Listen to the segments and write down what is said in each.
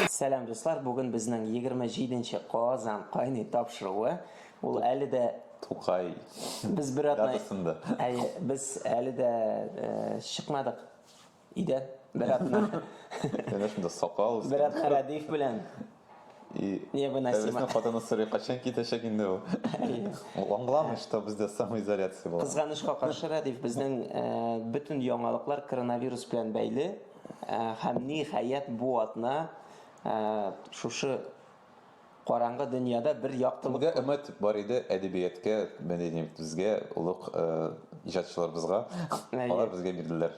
Сәлам, дуслар! Бүген безнең 27 нче Казан кайный тапшыруы. Ул әле дә Тукай. Без бер атна. Датасында. Әйе, без әле дә э, чыкмадык. Өйдә бер атна. Менә шунда сакал. Бер атна Радиф белән И Невыносимо. хатыны сорый, качан китәчәк инде ул? Ул аңламый, что бездә самоизоляция була. Кызганычка каршы, Рәдиф, безнең бөтен яңалыклар коронавирус белән бәйле. Һәм, ниһаять, бу атна шушы караңгы дөньяда бер яктылык. Безгә өмет бар иде әдәбияткә, мәдәниятебезгә, олуг иҗатчыларыбызга. Алар безгә бирделәр.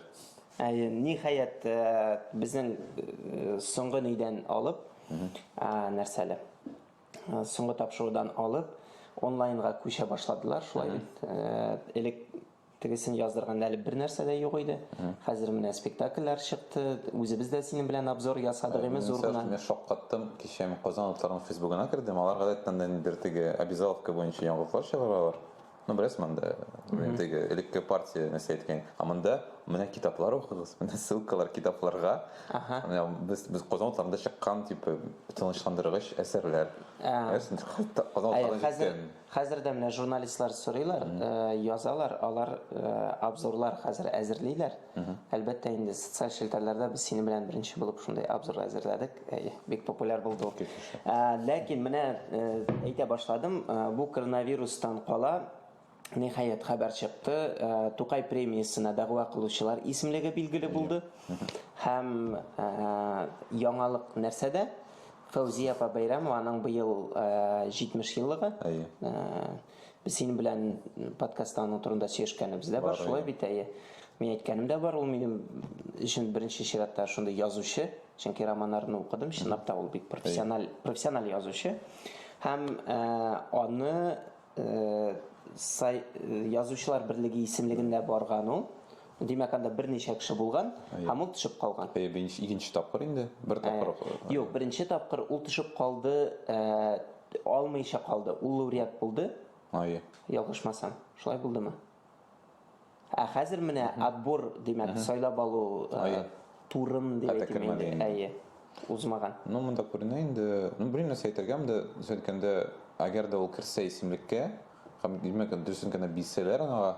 Әйе, ниһаять, безнең соңгы нидән алып, нәрсәле? Соңгы тапшырудан алып, онлайнга күчә башладылар, шулай бит. Элек тегесен яздырганда әле бер нәрсә дә юк иде. Хәзер менә спектакльләр чыкты. Үзебез дә синең белән обзор ясадык име зур гына. Мин шаккаттым, кичә Казан утларының фейсбугына кердем. Алар гадәттән дә бер теге обязаловка буенча яңгыраклар чыгаралар. Ну, беләсең анда, теге элекке партия нәрсә әйткән. Ә монда менә китаплар укыгыз, менә ссылкалар китапларга. Ага. Менә без без Казан утларында чыккан тип тынычландыргыч әсәрләр. Әсен Казан утларында хәзер хәзер дә менә журналистлар сорыйлар, язалар, алар обзорлар хәзер әзерлиләр. Әлбәттә инде социаль челтәрләрдә без синең белән беренче булып шундый обзор әзерләдек. бик популяр булды ул. Ләкин менә әйтә башладым, бу коронавирустан кала Ниһаять хәбәр чыкты, Тукай премиясенә дәгъва кылучылар исемлеге билгеле булды. Һәм яңалык нәрсәдә? Фәүзия апа Бәйрәмова, аның быел 70 еллыгы. Без синең белән подкастта аның турында сөйләшкәнебез дә бар, шулай бит, әйе. Мин әйткәнем дә бар, ул минем өчен беренче чиратта шундый язучы, чөнки романнарын укыдым, чынлап та ул бик профессиональ, профессиональ язучы. Һәм э, аны э, сай, э, язучылар берлеге исемлегендә барган ул. Димәк, анда берничә кеше булган һәм ул төшеп калган. Э, беренче, икенче тапкыр инде, бер э, тапкыр. Э, Юк, беренче тапкыр ул төшеп калды, алмыйча калды. Ул лауреат булды. Ае. Ялгышмасам, шулай булдымы? Ә хәзер менә отбор, димәк, сайлап алу турын дип әйтелгәндә, әйе, узмаган. Ну, монда күренә инде. Ну, белмим, нәрсә әйтергә, монда сөйләткәндә, әгәр дә ул керсә исемлеккә, һәм димәк, дөресен генә бисәләр аңа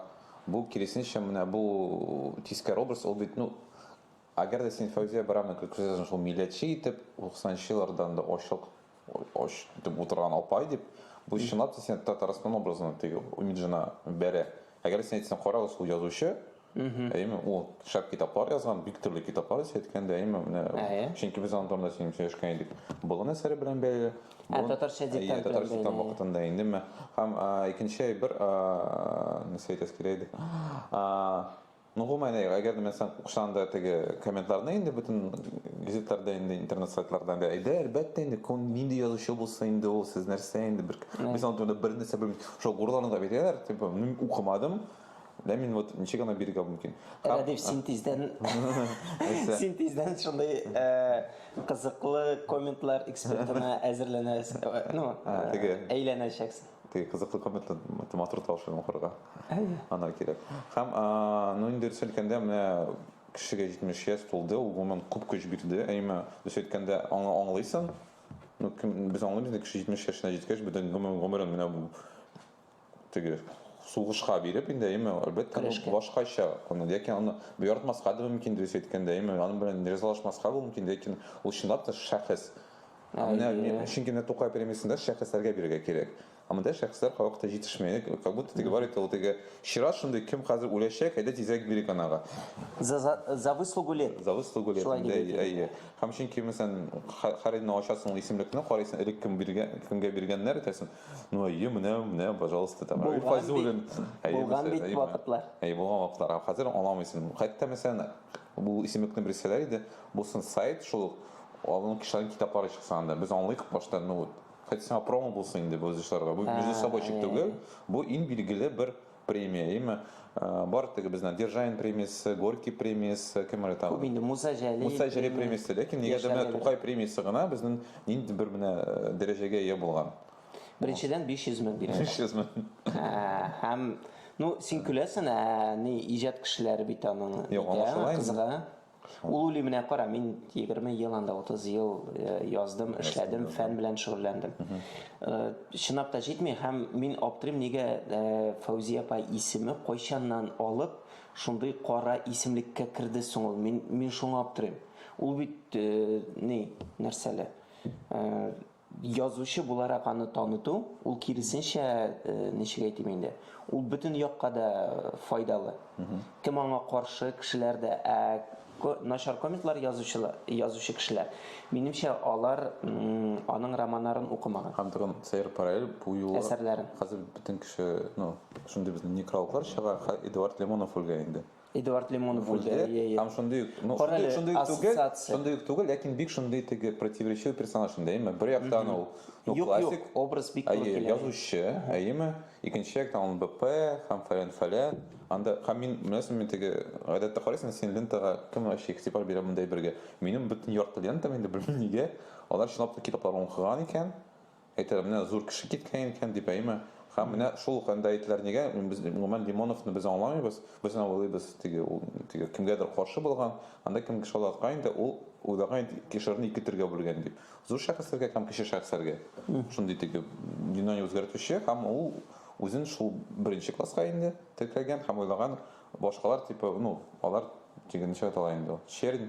Бу киресенчә менә бу тискәр образ ул бит ну Әгәр дә син Фәүзия Брамны күрсәтәсең шул милләтче итеп, 90 нчы еллардан да ачлык ач итеп утырган апай дип, бу чынлап та сине Татарстан образына теге имиджына бәрә. Әгәр син әйтсәң, карагыз, ул язучы, әйеме, ул шәп китаплар язган, бик төрле китаплар, сез әйткәндәй, әйеме, менә, чөнки без аның турында сөйләшкән идек, Болын әсәре белән бәйле. Ә татарча диктант белән татарча диктант вакытында инде ме? Һәм икенче бер нәрсә әйтәсе килә иде. Ну, гомумән, әгәр дә мәсәлән, укысаң да теге комментларны инде бөтен газетларда инде интернет сайтларда инде әйдә, әлбәттә инде кем нинди язучы булса инде ул сез нәрсә инде бер без аны бер нәрсә белмибез. Шул гурланырга бирәләр, типа, мин укымадым, Дә мин вот ничек аны биргә мөмкин? Рәдиф, син тиздән син тиздән шундый кызыклы комментлар экспертына әзерләнәсең. Ну, әйләнәчәксең. Теге кызыклы комментлы матур тавышлы укырга. Ана кирәк. Һәм ну инде дөрес әйткәндә менә кешегә 70 яшь тулды, ул гомумән күп көч бирде. Әйме, дөрес әйткәндә аңа аңлыйсың. Ну, без аңлыйбыз, кеше 70 яшенә җиткәч, бөтен гомерен менә бу теге сугышка биреп инде әйеме әлбәттә башкача аны ләкин аны буяртмаска да мөмкин дөрес әйткәндә әйеме аның белән ризалашмаска да мөмкин ләкин ул чынлап та шәхес менә чөнки менә тукай премиясендә шәхесләргә бирергә кирәк ә монда шәхесләр кайвакыт җитешмәй как будто теге бар итә ул теге чират шундый кем хәзер үләчәк әйдә тизрәк бирик анага за выслугу лет за выслугу лет әйе һәм чөнки мәсәлән хәрәйне ачасың исемлекне карыйсың элек кем биргән кемгә биргәннәр әйтәсең Ну, әйе, менә, менә, пожалуйста, там, Равил Файзуллин. Булган бит вакытлар. Әйе, булган вакытлар. Ә хәзер аламыйсың. Хәтта, мәсәлән, бу исемлекне бирсәләр иде, булсын сайт, шул алын кешеләрнең китаплары чыкса анда. Без аңлыйк башта, ну, вот, хотя сиңа промо булсын инде бу язучыларга. Бу между собойчик түгел, бу иң билгеле бер премия ими бар теге безнең державин премиясе горький премиясе кем әле тагы инде муса җәлил муса җәлил премиясе ләкин нигәдә менә тукай премиясе гына безнең нинди бер менә э, дәрәҗәгә ия булган беренчедән 500 мең бирә 500 мең һәм ну син көләсең ә ни иҗат кешеләре бит аның юк аңлашыла кызыга Ул уйлый, менә кара, мин 20 ел анда 30 ел э, яздым, эшләдем, фән белән шөгыльләндем. Э, чынлап та җитми һәм мин аптырыйм, нигә э, Фәүзия апа исеме кайчаннан алып шундый кара исемлеккә керде соң ул? Мин мин шуңа аптырыйм. Ул бит ни, нәрсәле? Язучы буларак аны таныту, ул киресенчә, ничек әйтим инде, ул бөтен якка да файдалы. Кем аңа каршы, кешеләр дә, ә начар комиклар язучылар, язучы кешеләр, минемчә, алар аның романнарын укымаган. Һәм тагын сәер параллель, бу юлы Әсәрләрен. хәзер бөтен кеше, ну, шундый безнең некрологлар чыга, Эдуард Лимонов үлгән инде. Эдуард Лимонов үлде. Һәм шундый ук, ну, шундый, шундый ук түгел, шундый ук түгел, ләкин бик шундый теге противоречивый персонаж инде, әйме? Бер яктан ул, ну, юк, классик. Юк, образ бик туры килә. Язучы, әйме? Икенче яктан ул БП, һәм фәлән фәлән. Анда, һәм мин, беләсең, мин теге, гадәттә карыйсың, син лентага кем вообще игътибар бирә мондай бергә? Минем бөтен ярты лентам инде, белмим нигә. Алар чынлап та китаплар укыган икән. Әйтәләр, менә зур кеше киткән икән дип, әйеме? Һәм менә шул ук анда әйтәләр, нигә без, гомумән, Лимоновны без аңламыйбыз, без аны уйлыйбыз, теге, ул, теге, кемгәдер каршы булган, анда кемгә шаулаткан инде, ул уйлаган инде, кешеләрне ике төргә бүлгән дип, зур шәхесләргә һәм кече шәхесләргә, шундый теге, дөньяны үзгәртүче, һәм ул үзен шул беренче класска инде теркәгән һәм уйлаган, башкалар, типа, ну, алар, теге, ничек әйтә ала инде ул, чернь,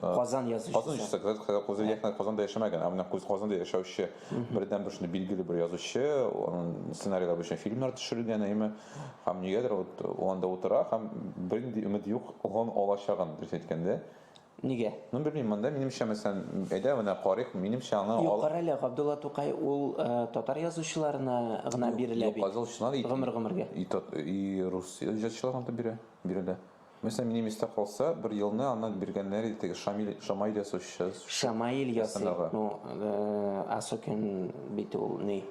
Казан язучысы. Казан язучысы, Казан язучысы, Казанда яшәмәгән, ә менә Казанда яшәүче бердән бер шундый билгеле бер язучы, аның сценарийлары буенча фильмнар төшерелгән, әйме, һәм нигәдер вот анда утыра һәм бернинди өмет юк, он алачагын дөрес әйткәндә. Нигә? Ну, белмим, монда минемчә, мәсәлән, әйдә менә карыйк, минемчә аны Юк, кара әле, Габдулла Тукай ул э, татар язучыларына гына бирелә бит. Юк, язучылар гомер гомергә. И, и рус язучыларына да бирә, бирелә. Мәсәлән, минем истә калса, бер елны аны биргәннәр иде теге Шамиль, Шамаил ясаучы. Шамаил ясый, ну, Асокин бит ул ни,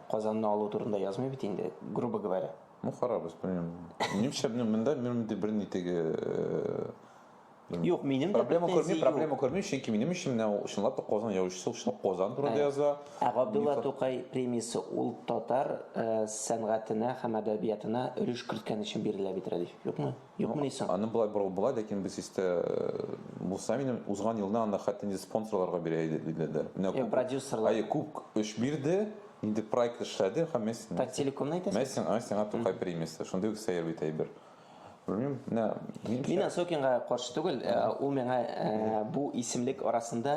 Казанны алу турында язмый бит инде, грубо говоря. Ну, харабыз, белмим. Минемчә, монда минем бер ни теге Юк, минем проблема күрмим, проблема күрмим, чөнки минем өчен менә ул чынлап та Казан яучысы, ул чынлап Казан турында яза. Ә Габдулла Тукай премиясе ул татар сәнгатенә һәм әдәбиятына өлеш керткән өчен бирелә бит, Рәдиф, юкмы? Юкмыни соң? Аны болай борылып була, ләкин без истә булса минем, узган елны аны хәтта инде спонсорларга бирә иде, диделәр. Менә күп. Юк, продюсерлар. Әйе, күп эш бирде, нинди проект эшләде һәм мә син. Таттелекомны әйтәсең? Мә сиңа Тукай премиясе, шундый ук сәер бит әйбер. Белмим, менә Мин Осокинга каршы түгел, э, ул миңа э, бу исемлек арасында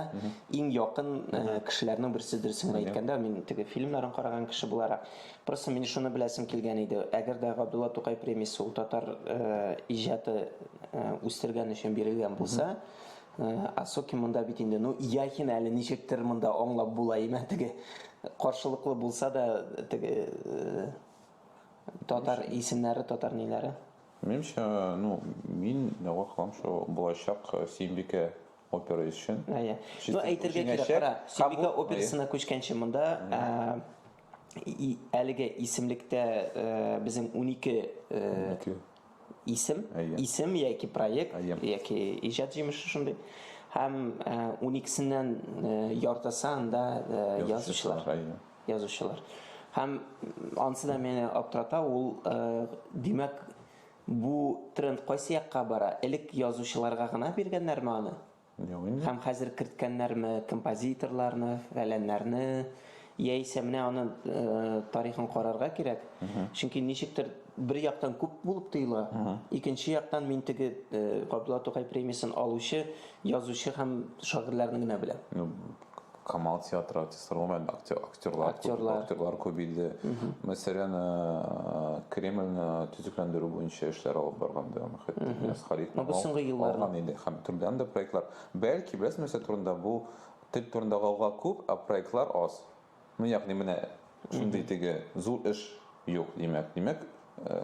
иң якын э, кешеләрнең берсе дөресен генә әйткәндә, мин теге фильмнарын караган кеше буларак, просто мин шуны беләсем килгән иде. Әгәр дә Габдулла Тукай премиясе ул татар э, иҗаты э, үстергән өчен бирелгән булса, э, Осокин монда бит инде, ну, Яхин әле ничектер монда аңлап була име, теге каршылыклы булса да, теге э, Татар исемнәре, татар ниләре? Минемчә, ну, мин дәгъва кылам шул булачак э, Сөембикә опера өчен. Әйе. Ну, әйтергә кирәк, кара, Сөембикә операсына күчкәнче монда әлеге исемлектә э, безнең 12 э, исем, исем яки проект, яки иҗат җимеше шундый. Һәм 12-сеннән яртысы анда язучылар. язучылар. Һәм ансы да мине аптырата, ул, димәк, бу тренд кайсы якка бара? Элек язучыларга гына биргәннәрме аны? Юк инде. Һәм хәзер керткәннәрме композиторларны, фәләннәрне? Яисә менә аны тарихын карарга кирәк. Чөнки ничектер бер яктан күп булып тоела, икенче яктан мин теге Габдулла Тукай премиясен алучы язучы һәм шагыйрьләрне генә беләм. Камал театры артистлары гомумән актер, актерлар, актерлар. Күп, актерлар күбәйде. Мәсәлән, э, Кремльне төзекләндерү буенча эшләр алып барган да Мөхәтмәс Халит. Ну, без соңгы елларда. Алган инде һәм төрлән дә проектлар. Бәлки, беләсез, нәрсә турында бу тел турында гауга күп, а проектлар аз. Ну, ягъни менә шундый теге зур эш юк, димәк. Димәк,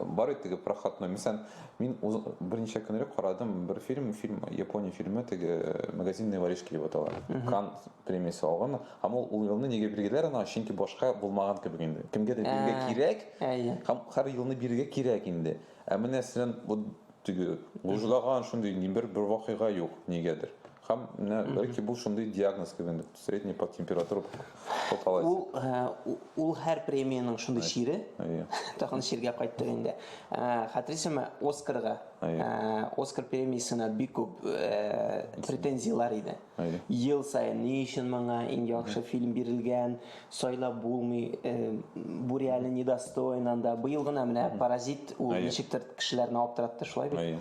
бар бит теге проходной. Мисән, мин берничә көн элек карадым бер фильм, фильм Япония фильмы теге магазинные воришки дип атала. Кан премиясе алган. Һәм ул ул елны нигә билгеләр ана, чөнки башка булмаган кебек инде. Кемгә дә бирергә кирәк. Һәм һәр елны бирергә кирәк инде. Ә менә сен бу теге лужлаган шундый ни бер бер вакыйга юк нигәдер. Һәм менә бәлки бу шундый диагноз кебек. Средний по температуре по палате. Ул, э, ул һәр премиянең шундый чире. Әйе. Тагын чиргә кайттык инде. Э, Хәтерсезме, Оскарга, Әйе. э, Оскар премиясенә бик күп э, претензияләр иде. Әйе. Ел саен ни өчен моңа иң яхшы фильм бирелгән, сайлап булмый, э, бу реально недостойно анда. Быел гына менә Паразит ул Әйе. ничектер кешеләрне аптыратты, шулай бит? Әйе.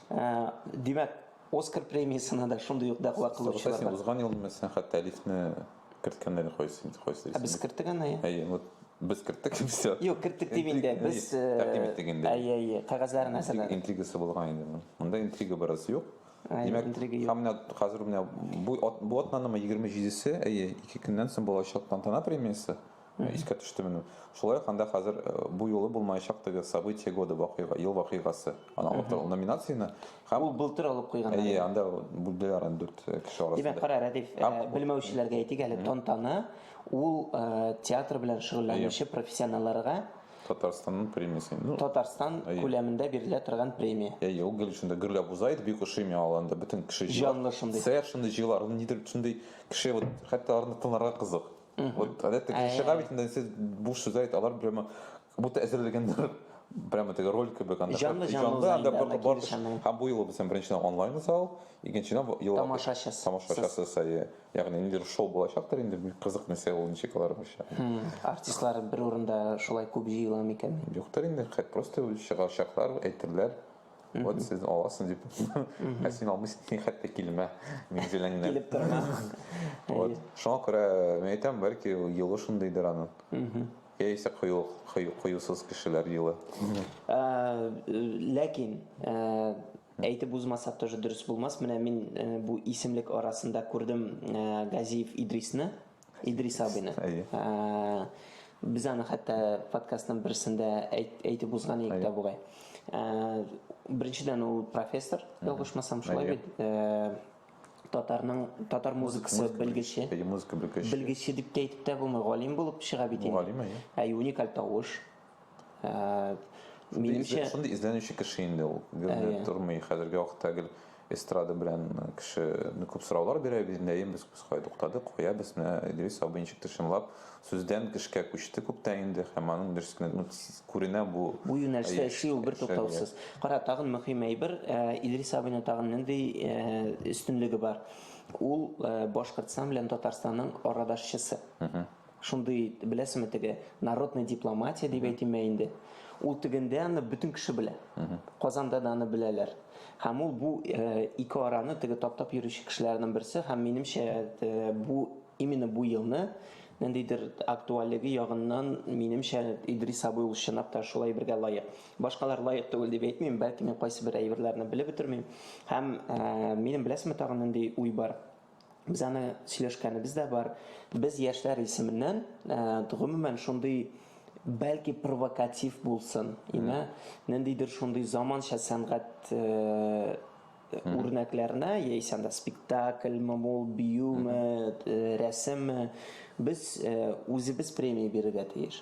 Э, Димәк, Оскар премиясенә дә шундый ук дәгъва кылучылар бар. Узган ел мин сәнгать тәлифне керткәннәр кайсы инде кайсы. Ә без керттек аны. Әйе, вот без керттек все. Юк, керттек дип инде. Без тәкъдим иттек инде. Әйе, әйе, кагазьләрен әзерләдек. Интригасы булган инде. Монда интрига бераз юк. Димәк, интрига юк. Менә хәзер менә бу бу атнанымы 27-се, әйе, ике көннән соң булачак тантана премиясе. Искә төште менә. Шулай ук анда хәзер э, бу юлы булмаячак теге событие года вакыйга, ел вакыйгасы. Аны алып торган номинацияне һәм Ул былтыр алып куйган. Әйе, анда бүлделәр аны дүрт э, кеше арасында. Димәк, кара, Рәдиф, э, Һәм- белмәүчеләргә әйтик әле, тантана ул э, театр белән шөгыльләнүче профессионалларга Татарстанның премиясе. Ну, Татарстан Әйе. күләмендә бирелә торган премия. әйе, ул гел шунда гөрләп уза иде, бик ошый миңа ул анда бөтен кеше җыела. Җанлы шундый. Сәер шундый җыелар, ул нидер шундый кеше, вот хәтта аларны тыңларга кызык. Угу. Вот, а это а шагами, я... сіз буш сюзает, алар прямо, будто әзірлегендер, прямо теге роль кебек анда жанлы жанлы анда бар бар һәм бу юлы безнең беренче онлайн зал икенчедән ел тамашачы тамашачысы сәйе ягъни ниндидер шоу булачактыр инде кызык нәрсә ул ничек алар буенча артистлар бер урында шулай күп җыела микән юктыр инде просто чыгачаклар әйтерләр Вот сез аласың дип. Ә син алмыйсың, хәтта килмә минем җиләңнән. Килеп торма. Вот. Шуңа күрә мин әйтәм, бәлки юлы шундыйдыр аның. Яисә кыю, кыю, кыюсыз кешеләр юлы. Ләкин әйтеп узмасак тоже дөрес булмас. Менә мин бу исемлек арасында күрдем Газиев Идрисны. Идрис абыйны. Әйе. Ә, Без аны хәтта подкастның берсендә әйт, әйтеп узган идек тә бугай. Ә, Беренчедән ул профессор, ялгышмасам, шулай Әйе. бит. Ә, Татарның татар музыкасы музыка белгече. Әйе, музыка белгече. Белгече дип тә әйтеп тә булмый, галим булып чыга бит инде. Галим, әйе. Әйе, уникаль тавыш. Ә, минемчә шундый эзләнүче кеше инде ул. Гөрне тормый. Хәзерге вакытта гел эстрада белән кеше ну, күп сораулар бирә, без инде без без кая туктадык, кая без менә Идрис абый ничек тышынлап сүздән кешкә күчте күптән инде һәм аның дөресенә ну, күренә бу. Бу юнәлештә эшли ул бер туктаусыз. Кара, тагын мөһим әйбер, Идрис абыйның тагын нинди өстенлеге бар? Ул Башкортстан белән Татарстанның арадашчысы. Угу. Шундый, беләсеме теге, народная дипломатия дип әйтимме инде. Ул тегендә аны бөтен кеше белә. Казанда да аны беләләр. Һәм ул бу э, ике араны теге таптап йөрүче кешеләрнең берсе һәм минемчә э, бу именно бу елны ниндидер актуальлеге ягыннан минемчә Идрис абый ул чынлап та шулай бергә лаек. Башкалар лаек түгел дип әйтмим, бәлки мин кайсы бер әйберләрне белеп бетермим. Һәм э, минем беләсеме тагын нинди уй бар? Без аны сөйләшкәнебез дә бар. Без яшьләр исеменнән, гомумән, шундый бәлки провокатив булсын, имә, ниндидер шундый заманча сәнгать үрнәкләренә, яисә анда спектакльме ул, биюме, рәсемме, без үзебез премия бирергә тиеш.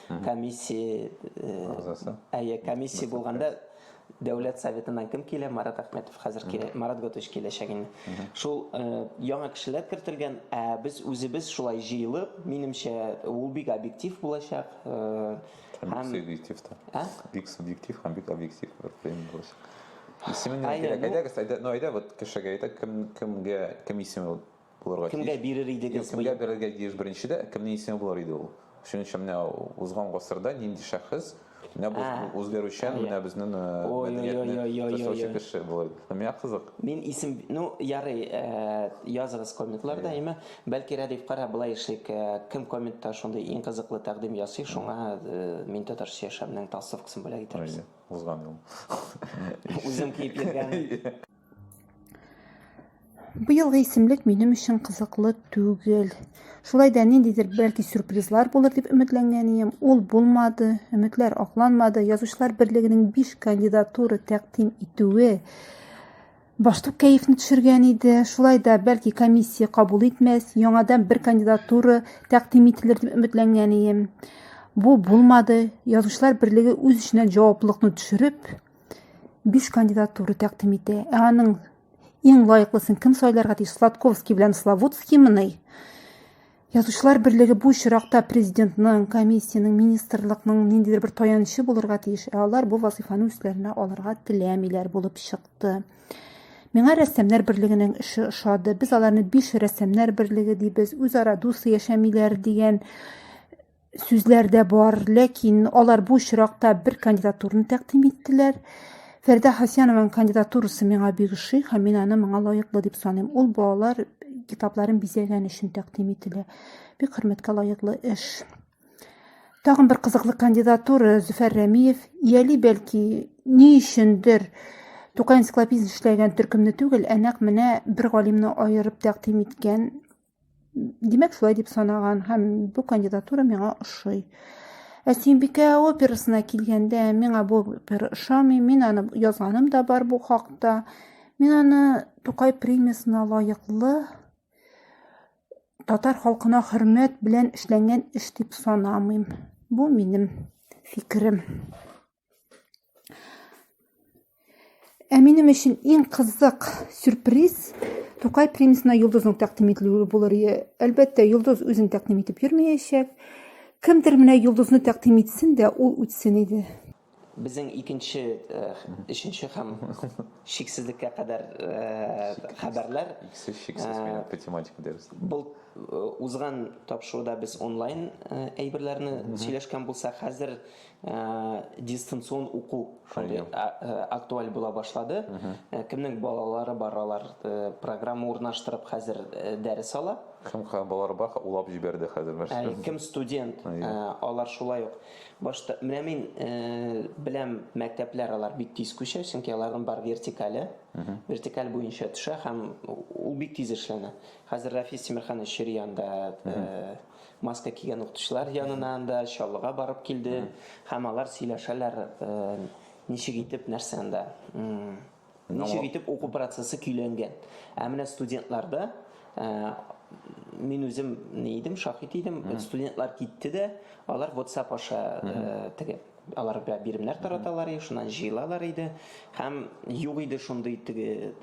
комиссия агзасы. Әйе, комиссия булганда Дәүләт советыннан кем килә? Марат Әхмәтов хәзер килә. Марат Готович киләчәк инде. Шул яңа кешеләр кертелгән, ә без үзебез шулай җыелып, минемчә, ул бик объектив булачак. Бик субъектив та. Ә? Бик субъектив һәм бик объектив бер фильм булачак. Исемен кирәк. Әйдәгез, әйдә, ну әйдә вот кешегә әйтә, кем кемгә кем исеме булырга тиеш. Кемгә бирер идегез? Юк, кемгә бирергә тиеш беренче дә, кемнең исеме булыр иде ул? Шуның өчен менә узган гасырда нинди шәхес, менә бу үзгәрүчән, менә безнең мәдәниятне ташучы кеше булыр иде. Миңа кызык. Мин исем, ну, ярый, языгыз комментларда, әйме. Бәлки Рәдифкара болай эшлик, кем комментта шундый иң кызыклы тәкъдим ясый, шуңа Мин татарча яшәмнең толстовкасын бүләк итәрбез. Узган ел. Үзем киеп йөргән. Быелгы исемлек минем өчен кызыклы түгел. Шулай да ниндидер бәлки сюрпризлар булыр дип өметләнгән идем. Ул булмады, өметләр акланмады. Язучылар берлегенең 5 кандидатура тәкъдим итүе баштук кәефне төшергән иде. Шулай да бәлки комиссия кабул итмәс, яңадан бер кандидатура тәкъдим ителер дип өметләнгән идем. Бу булмады. Язучылар берлеге үз эченә җаваплылыкны төшереп, Биш кандидат туры тәкъдим итә. Ә аның иң лаеклысын кем сайларга тиеш? Сладковский белән Славутский мыни? Язучылар берлеге бу очракта президентның, комиссиянең, министрлыкның ниндидер бер таянычы булырга тиеш, ә алар бу вазифаны үзләренә алырга теләмиләр булып чыкты. Миңа рәссамнар берлегенең эше ошады. Без аларны биш рәссамнар берлеге дибез, үзара дус яшәмиләр дигән сүзләр дә бар, ләкин алар бу очракта бер кандидатурны тәкъдим иттеләр. Фәрдә Хасянованың кандидатурасы миңа бик ошый һәм мин аны моңа лаеклы дип саныйм. Ул балалар китапларын бизәгән өчен тәкъдим ителә. Бик хөрмәткә лаеклы эш. Тагын бер кызыклы кандидатура Зөфәр Рәмиев. Ияли бәлки ни өчендер Тукай энциклопедиясен эшләгән төркемне түгел, ә нәкъ менә бер галимне аерып тәкъдим иткән Димәк, шулай дип санаган һәм бу кандидатура миңа ошый. Ә Симбикә операсына килгәндә, миңа бу опера ошамый, мин аны язганым да бар бу хакта. Мин аны Тукай премиясенә лаеклы татар халкына хөрмәт белән эшләнгән эш дип санамыйм. Бу минем фикерем. Ә минем өчен иң кызык сюрприз Тукай премиясенә йолдызның тәкъдим ителүе булыр. Әлбәттә, йолдыз үзен тәкъдим итеп йөрмәячәк. Кемдер менә йолдызны тәкъдим итсен дә, ул үтсен иде. Безнең икенче, өченче э, һәм шиксезлеккә кадәр э, хәбәрләр. Иксез, шиксез, э, минем математика дәресе. Был узган тапшыруда без онлайн әйберләрне сөйләшкән булса, хәзер дистанцион уку шундый актуаль була башлады. Кемнең балалары бар, алар программа урнаштырып хәзер дәрес ала. Кем балалары бар, улап җибәрде хәзер нәрсә. Кем студент, алар шулай ук. Башта менә мин беләм, мәктәпләр алар бик тиз күчә, чөнки аларның бар вертикале. Вертикаль буенча төшә һәм ул бик тиз эшләнә. Хәзер Рафис Тимерханович Ширианда маска кигән укытучылар янына анда чаллыга барып килде һәм алар сөйләшәләр ничек итеп нәрсә анда ничек итеп уку процессы көйләнгән ә менә студентларда мин үзем ни идем шаһит идем студентлар китте дә алар whatsapp аша теге Алар бә биремнәр тараталар иде, шуннан җыелалар иде һәм юк иде шундый теге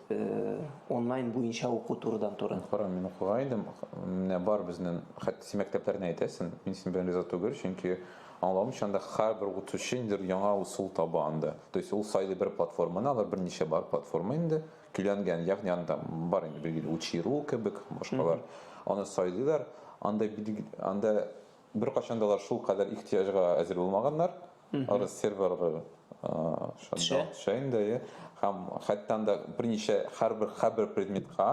онлайн буенча уку турыдан туры. Кара, мин укыга идем, менә бар безнен, хәтта син мәктәпләрне әйтәсен, мин синең белән риза түгел, чөнки аңлавымча анда һәрбер укытучы ниндидер яңа усул таба анда. То есть ул сайлый бер платформаны, алар берничә бар платформа инде, көйләнгән, ягъни анда бар инде билгеле учи.ру кебек, башкалар. Аны сайлыйлар, анда анда Беркайчан да алар шулкадәр ихтыяҗга әзер булмаганнар. Арыз серверлар шунда төшә инде, иә. Һәм хәтта анда берничә һәрбер һәрбер предметка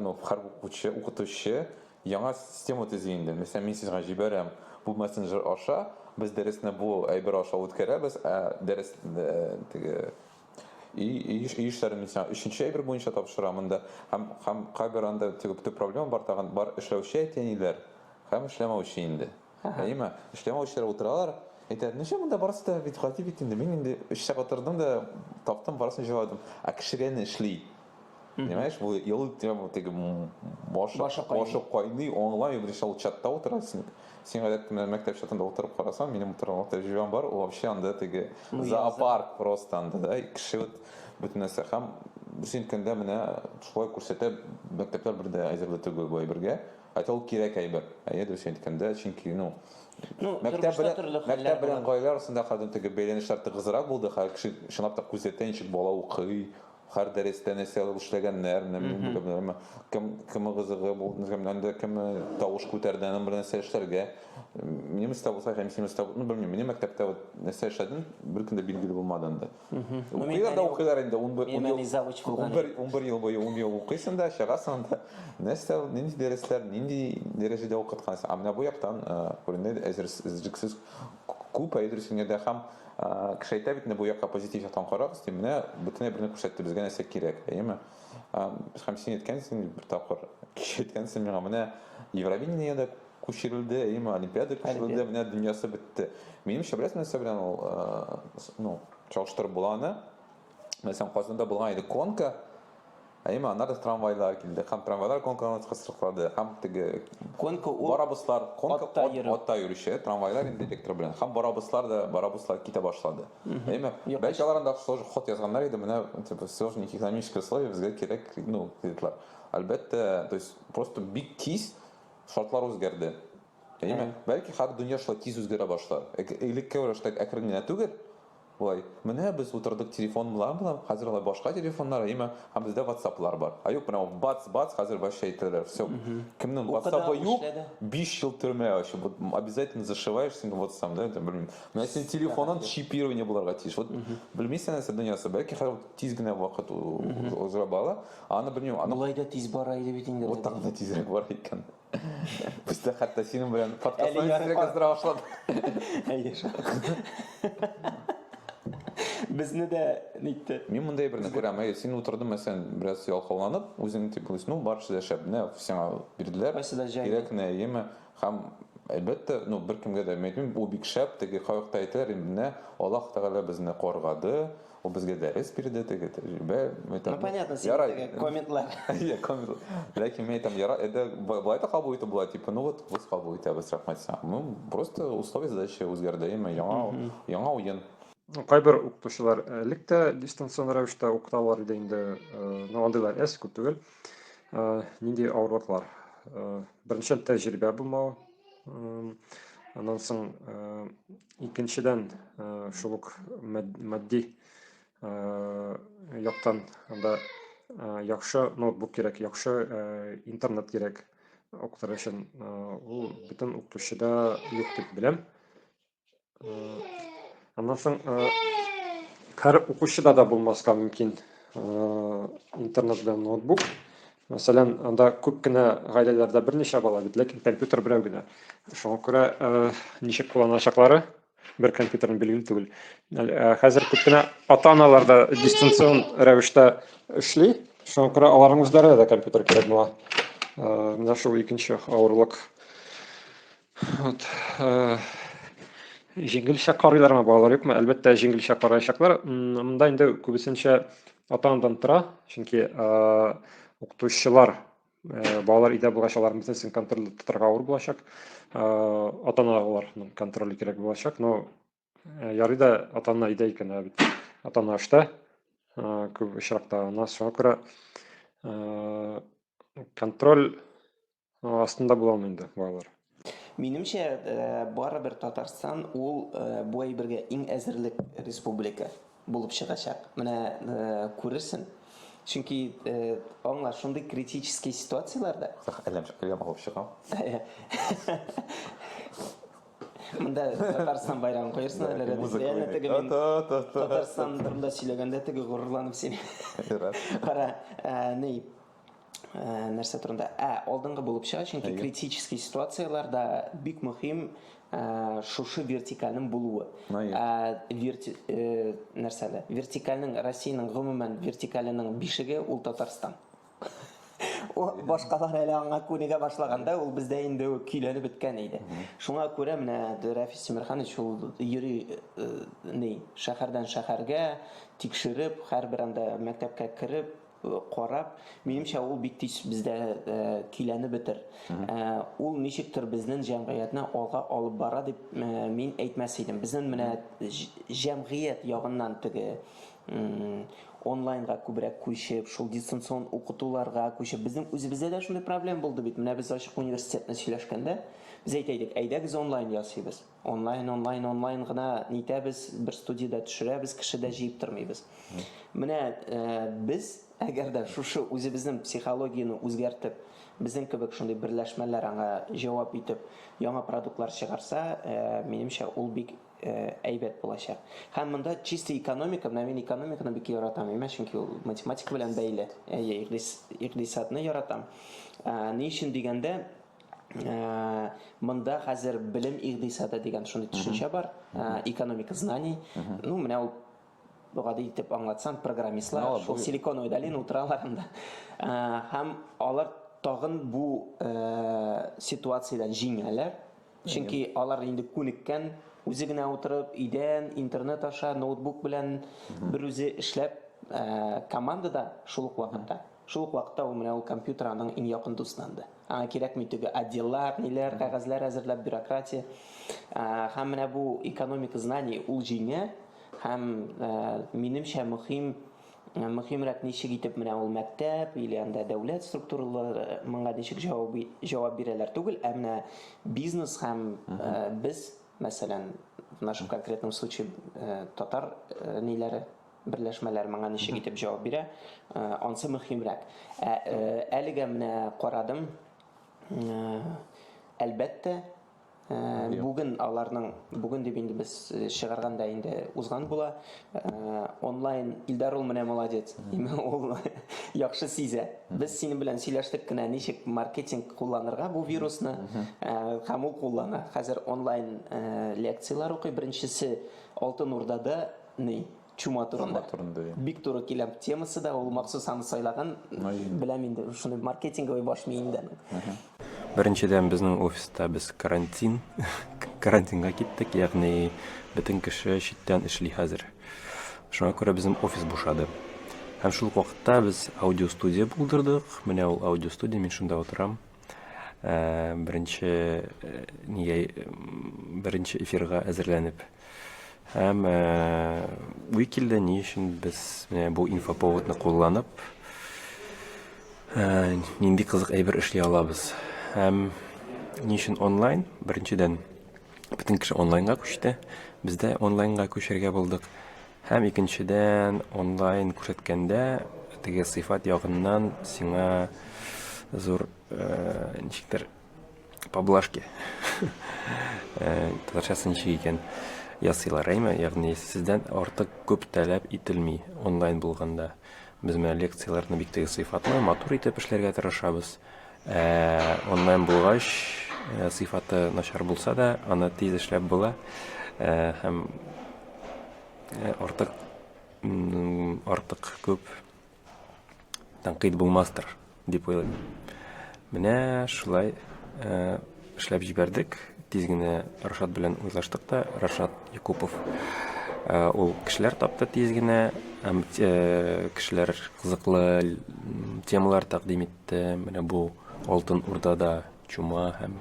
ну, һәр укучы, укытучы яңа система төзи инде. Мәсәлән, мин сезгә җибәрәм бу мессенджер аша, без дәресне бу әйбер аша үткәрәбез, ә дәрес теге и еш еш сәр мин сиңа өченче әйбер буенча тапшырам анда һәм һәм кайбер анда теге төп проблема бар тагын бар эшләүче әтиәниләр һәм эшләмәүче инде әйеме эшләмәүчеләр утыралар әйтәләр ничә монда барысы да бит гади бит инде мин инде өч сәгать тордым да таптым барысын җыладым ә кешегә ни эшли Понимаешь, бу ел тема теге башы башы кайный, онлай бер шул чатта утыра син. Син гадәттә менә мәктәп чатында утырып карасаң, минем утырган тәҗрибәм бар, ул вообще анда теге ну, зоопарк просто анда да, кеше вот бөтен нәрсә һәм син көндә менә шулай күрсәтә мәктәпләр бер дә әзер түгел бу әйбергә. Әйтә ул кирәк әйбер. Әйе, дөрес әйткәндә, чөнки ну Ну, мәктәп белән, мәктәп белән гаилә арасында хәзер теге бәйләнешләр тыгызрак булды, хәзер кеше чынлап та күзәтә, ничек бала укый, Хар дәрестә нәрсә алып эшләгәннәр, кем кем гызыгы булды, кемнән дә кем тавыш күтәрде, аның белән нәрсә эшләргә. Минем истә булса, һәм синең истә, ну белмим, минем мәктәптә вот нәрсә эшләдем, бер көндә билгеле булмады инде. Укыйлар да укыйлар инде, 11 ел. Мин завуч булган. 11 11 ел буе 10 ел укыйсың да, чыгасың да. Нәрсә, нинди дәресләр, нинди дәрәҗәдә укыткансың? А менә бу яктан күренде, әзерсез, күп ә дөресен генә дә һәм кеше әйтә бит инде бу якка позитив яктан карагыз дип менә бөтенләй берне күрсәтте безгә нәрсә кирәк әйеме һәм син әйткәнсең бер тапкыр кеше әйткәнсең миңа менә евровидение дә күчерелде әйеме олимпиада күчерелде менә дөньясы бетте минемчә беләсең нәрсә белән ул ну чагыштырып була аны Мәсәлән, Казанда булган иде конка, Әйме, аннар да трамвайлар килде. Һәм трамвайлар конкуренция кысрыклады. Һәм теге конка ул барабуслар, конка атта йөрү. Атта йөрүче, трамвайлар инде электр белән. Һәм барабуслар да, барабуслар китә башлады. Әйме, бәлки алар анда сложно ход язганнар иде, менә типа сложно экономическое условие безгә кирәк, ну, диделәр. Әлбәттә, то есть просто бик тиз шартлар үзгәрде. Әйме, бәлки хәзер дөнья шулай тиз үзгәрә башлар. Элекке рәвештә әкрен генә түгел, Болай, менә без утырдык телефон белән белән, хәзер алай башка телефоннар, әйме, һәм бездә ватсаплар бар. Ә юк, менә ул бац, бац, хәзер вообще әйтәләр, все. Кемнең ватсапы юк, 5 ел төрмә ачы, вот обязательно зашиваешь синең ватсам, да, это, белмим. Менә синең телефонын чипирование буларга тиеш. Вот, белмисең нәрсә дөньясы, бәлки хәзер тиз генә вакыт уза бала, аны белмим, аны... Болай да тиз бара иде бит инде. Вот так да тизрәк бара икән. Пусть хәтта синең белән подкастны исерек яздыра башлады. Әйе шул. Безне дә нитте. Мин мондай берне күрәм. Әйе, син утырдың мәсәлән, бераз ялкауланып, үзең дип уйлыйсың, ну барысы да шәп, менә сиңа бирделәр. Барысы да җай. Кирәк не, әйеме? Һәм әлбәттә, ну беркемгә дә әйтмим, бу бик шәп, теге кавыкта әйтәләр, инде менә Аллаһ Тәгалә безне коргады, Ул безгә дәрес бирде, теге тәҗрибә. Ну, понятно, син ярай... теге комментлар. Иә, комментлар. Ләкин мен айтам, ярай, әдә, былай да кабул итеп була, типа, ну вот, без кабул итәбез, рәхмәт сиңа. Ну, просто условия задачи үзгәрде, яме, яңа, яңа уен. Кайбер укытучылар элек тә дистанцион рәвештә укыталар иде инде, ну, андыйлар әз күп түгел. Нинди авырлыклар? Беренчел тәҗрибә булмау, аннан соң икенчедән шул ук матди яктан да яхшы ноутбук кирәк яхшы интернет кирәк укытыр өчен ул бөтен укытучыда юк дип беләм аннан соң һәр укучыда да булмаска мөмкин интернет белән ноутбук Мәсәлән, анда күп кенә гаиләләрдә берничә бала бит, ләкин компьютер берәү генә. Шуңа күрә ничек кулланачаклары бер компьютерны билгеле түгел. Хәзер күп кенә ата-аналар да дистанцион рәвештә эшли. Шуңа күрә аларның үзләренә дә компьютер кирәк була. Менә шул икенче авырлык. Вот. Э, җиңелчә карыйлармы балалар юкмы? Әлбәттә, җиңелчә караячаклар. Монда инде күбесенчә ата-анадан тора, чөнки э, укытучылар э, балалар өйдә булгач, алар бөтенесен контрольдә тотарга авыр булачак. Ата-аналарның контроле кирәк булачак, но ярый да ата-ана өйдә икән, ә бит ата-ана эштә. Күп очракта ана шуңа күрә контроль Астында була алмый инде балалар. Минемчә, э, барыбер Татарстан ул э, бу әйбергә иң әзерлек республика булып чыгачак. Менә э, күрерсең. Чөнки аңла шундый критический ситуацияләрдә әлләм әлләм алып чыгам. Монда Татарстан байрагын куерсың әле реально теге мин Татарстан турында сөйләгәндә теге горурланып син. Кара, ни нәрсә турында ә алдынгы булып чыга чөнки критический ситуацияләрдә бик мөһим шушы вертикальнең булуы нәрсә дә вертикальнең россиянең гомумән вертикаленең бишеге ул татарстан башкалар әле аңа күнегә башлаганда ул бездә инде көйләнеп беткән иде шуңа күрә менә рәфис тимерханович ул йөри ни шәһәрдән шәһәргә тикшереп һәрбер анда мәктәпкә кереп карап, минемчә ул бик тиз бездә көйләнеп бетер. Ул ничектер безнең җәмгыятьне алга алып бара дип мин әйтмәс идем. Безнең менә җәмгыять ягыннан теге онлайнга күбрәк күчеп, шул дистанцион укытуларга күчеп, безнең үзебездә дә шундый проблем булды бит. Менә без ачык университетны сөйләшкәндә, без әйтәйдек, әйдәгез онлайн ясыйбыз. Онлайн, онлайн, онлайн гына нитәбез, бер студиядә төшерәбез, кеше дә җыеп тормыйбыз. Менә э, без, әгәр дә шушы үзебезнең психологияне үзгәртеп, безнең кебек шундый берләшмәләр аңа җавап итеп, яңа продуктлар чыгарса, э, минемчә, ул бик э, әйбәт булачак. Һәм монда чисто экономика, менә мин экономиканы бик яратам, әмма чөнки ул математика белән бәйле. Әйе, икъдисадны яратам. Ә, ни өчен дигәндә, Э, монда хәзер белем игъдисады дигән шундый төшенчә бар э, экономика знаний ну менә ул гади итеп аңлатсам программистлар ну, шул силиконовый долина утыралар анда э, һәм алар тагын бу ситуациядән җиңәләр чөнки алар инде күнеккән үзе генә утырып өйдән интернет аша ноутбук белән бер үзе эшләп командада шул ук вакытта Шул ук вакытта ул менә ул компьютер аның иң якын дустнанды. Аңа кирәкми теге отделлар, ниләр, кәгазьләр әзерләп, бюрократия. Һәм менә бу экономика знаний ул җиңә һәм минемчә мөһим мөһимрәк ничек итеп менә ул мәктәп или анда дәүләт структуралары моңа ничек җавап җавап бирәләр түгел, ә менә бизнес һәм без, мәсәлән, в нашем конкретном случае татар ниләре берләшмәләр моңа ничек итеп җавап бирә, э, ансы мөһимрәк. Ә э, әлегә менә карадым, э, әлбәттә, бүген аларның бүген дип инде без чыгарганда инде узган була онлайн илдар ул менә молодец ул яхшы сизә без синең белән сөйләштек кенә ничек маркетинг кулланырга бу вирусны һәм ул куллана хәзер онлайн лекцияләр укый беренчесе алтын урдада Ни? Чума турында. Чума турында, иә. Бик туры килә темасы да, ул махсус аны сайлаган. Беләм инде, шуны маркетинговый баш миендә. Беренчедән, безнең офиста без карантин, карантинга киттек, ягъни бөтен кеше читтән эшли хәзер. Шуңа күрә безнең офис бушады. Һәм шул вакытта без аудиостудия булдырдык. Менә ул аудиостудия, мин шунда утырам. Беренче нигә беренче эфирга әзерләнеп һәм уй килде, ни өчен без менә бу инфоповодны кулланып нинди кызык әйбер эшли алабыз һәм ни өчен онлайн? Беренчедән, Бөтен кеше онлайнга күчте, без дә онлайнга күчәргә булдык. Һәм икенчедән, онлайн күрсәткәндә, теге сыйфат ягыннан сиңа зур э, ничектер поблажки э, татарчасы ничек икән ясыйлар әйме ягъни сездән артык күп таләп ителми онлайн булганда без менә лекцияләрне бик теге сыйфатлы матур итеп эшләргә тырышабыз Ә онлайн булгач, сыйфаты начар булса да, аны тиз эшләп була һәм артык артык күп тәнкыйть булмастыр дип уйлыйм. Менә шулай Эшләп җибәрдек. Тиз генә Рашат белән уйлаштык та, Рашат Якупов. Э, ул кешеләр тапты тиз генә, һәм э, кешеләр кызыклы темалар тәкъдим итте. Менә бу Алтын Урдада чума һәм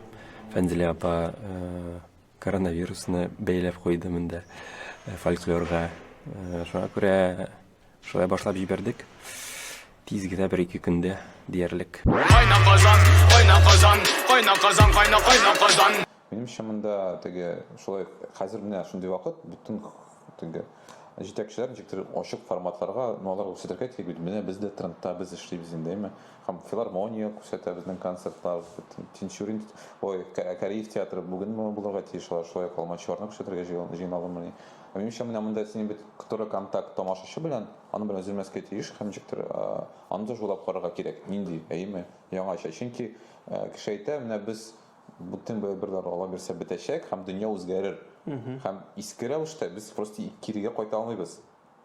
Фәнзилә апа э, коронавирусны бәйләп куйды монда фольклорга. Шуңа күрә Шулай башлап җибәрдек. Тиз генә бер-ике көндә диярлек. Кайна Казан, кайна Казан, кайна Казан, кайна кайна Казан. Минемчә монда теге шулай хәзер менә шундый вакыт бөтен теге җитәкчеләр ничектер ачык форматларга, ну алар күрсәтергә кирәк бит. Менә без дә трендта, без эшлибез инде, әйме? Һәм филармония күрсәтә безнең концертлар, Тинчурин, ой, Кариев театры бүген булырга тиеш, алар шулай ук Алмачуарны күрсәтергә җыйналдымыни. Минемчә, менә монда синең бит который контакт тамашачы белән, аны белән өзелмәскә тиеш һәм ничектер аны да жулап карарга кирәк. Нинди, әйеме? Яңача. Чөнки кеше әйтә, менә без бүтән бер бер дары ала бирсә бетәчәк һәм дөнья үзгәрер. Һәм иске рәвештә без просто кирегә кайта алмыйбыз.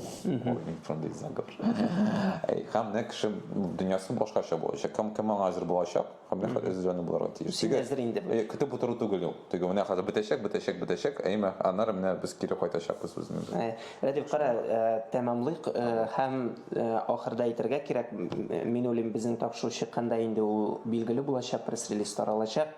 Ой, мин шундый зәңгәр. Әй, һәм менә кеше дөньясы башкача булачак. Кем кем аңа әзер булачак, һәм менә хәзер әзерләнеп булырга тиеш. Син әзер инде. Әй, көтеп утыру түгел ул. Теге менә хәзер бетәчәк, бетәчәк, бетәчәк, әйме, аннары менә без кире кайтачакбыз үзебез. Әй, Рәдиф, кара, э, тәмамлыйк, э, һәм э, ахырда әйтергә кирәк, мин уйлыйм, безнең тапшыру чыкканда инде ул билгеле булачак, пресс-релиз таралачак.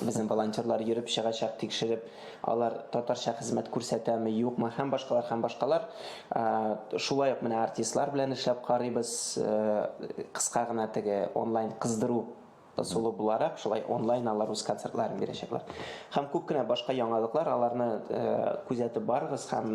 Безнең волонтерлар йөреп чыгачак, тикшереп, алар татарча хезмәт күрсәтәме, юкмы һәм башкалар һәм башкалар. Шулай ук менә артистлар белән эшләп карыйбыз. Кыска гына теге онлайн кыздыру ысулы буларак, шулай онлайн алар үз концертларын бирәчәкләр. Һәм күп кенә башка яңалыклар, аларны күзәтеп барыгыз һәм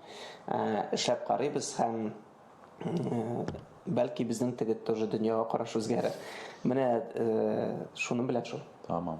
эшләп карыйбыз һәм бәлки безнең теге тоже дөньяга караш үзгәрер. Менә шуның белән шул. Тамам.